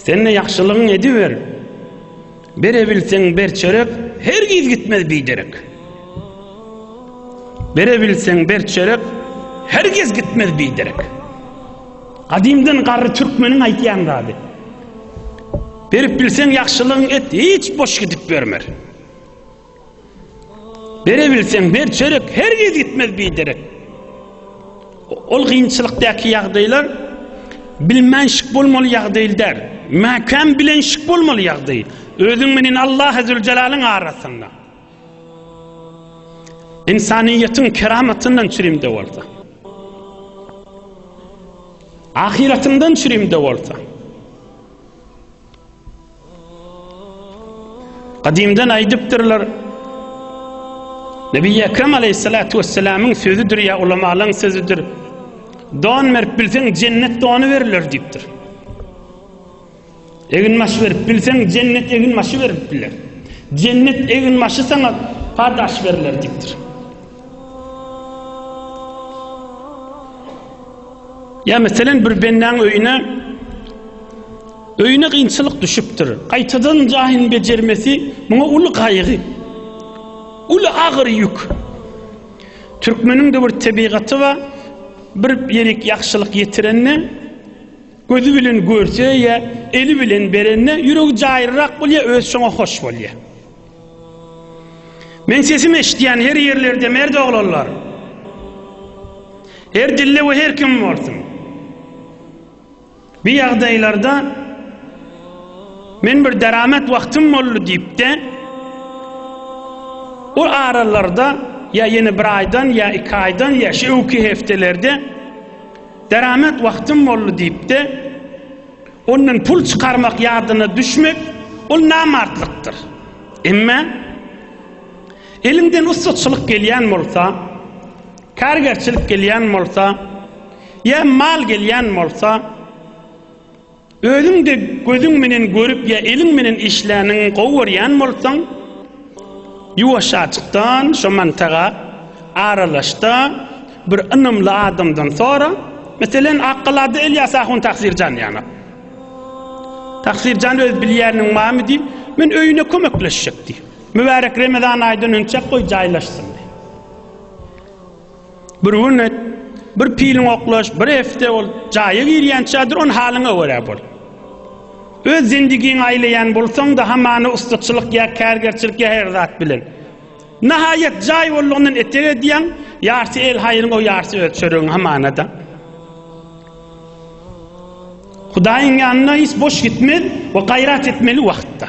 Sen-de ýagşylygyňy ediber. Berebilseň ber çörek, hergiz gitmez biderek. Berebilseň ber çörek, hergiz gitmez biderek. Gadymdan garry türkmeniň aýtýan zady. Berip bilseň ýagşylygyňy et, hiç boş gidip bermer. Berebilseň ber çörek hergiz gitmez biderek. Ol gynçylykdaky ýagdaýlar bilmän şik bolmaly ýagdaý däl. Mäkäm bilen şik bolmaly ýagdaý. Özüň menen Allah Zülcelalyň arasynda. İnsaniýetiň keramatyndan çürimde bolsa. Ahyratyňdan çürimde bolsa. Gadymdan aýdypdyrlar, Nebi Ekrem aleyhissalatu vesselamyň sözüdir ya ulamalaryň sözüdir. Don berip bilseň jennet donu beriler diýipdir. Egin maşy berip bilseň jennet egin maşy berip biler. Jennet egin maşy sana padaş beriler diýipdir. Ya meselen bir bendaň öýüne Öýüne kynçylyk düşüpdir. Gaýtadan jaýyny bejermesi muňa uly gaýgy. Uly agyr ýük. Türkmeniň-de bir tebigaty bar, bir ýerik ýagşylyk ýetirende, gözi bilen görse ýa eli bilen berende ýüregi jaýryrak bolýar, özi şoňa hoş bolýar. Men sesimi eşitýän her ýerlerde merd oglanlar. Her dilde we her kim bolsun. Bir ýagdaýlarda men bir deramet wagtym boldy diýip-de, o aralarda ýa ýene bir aýdan, ýa iki aýdan, ýa şu öwki hepdelerde deramet wagtym boldy diýip-de, ondan pul çykarmak ýadyna düşmek, ol namartlykdyr. Emma eliňden ussatçylyk gelýän bolsa, Kärgerçilik gelýän bolsa, ýa mal gelýän bolsa, özüň-de gözüň menen görüp ýa eliň menen işläniň gowy görýän bolsaň, ýuwaşjajykdan şo mantaga aralaşda, bir ynamly adamdan sora, meselen, Akgalada Ylýas ahun Tagsirjan ýaňa. Tagsirjan öz bilýäniň barmy diýip, men öýüne kömekleşjek diý. Mübärek Remezan aýdan önçäk goý jaýlaşsyn diý. Bir gün et, bir piliň oklaş, bir efte ol, jaýa girýänçädir, on halyňa görä bol. Öz zendigiňi aýlaýan bolsaň-da, hamana ussatçylyk ýa kärgerçilik ýa her zat bilen. Nahaýat jaý bollugyndan etek edýäň, ýarsy el haýryň, o ýarsy öz çöregiň hamana-da. Hudaýyň ýanyna hiç boş gitmez we gaýrat etmeli wagtda.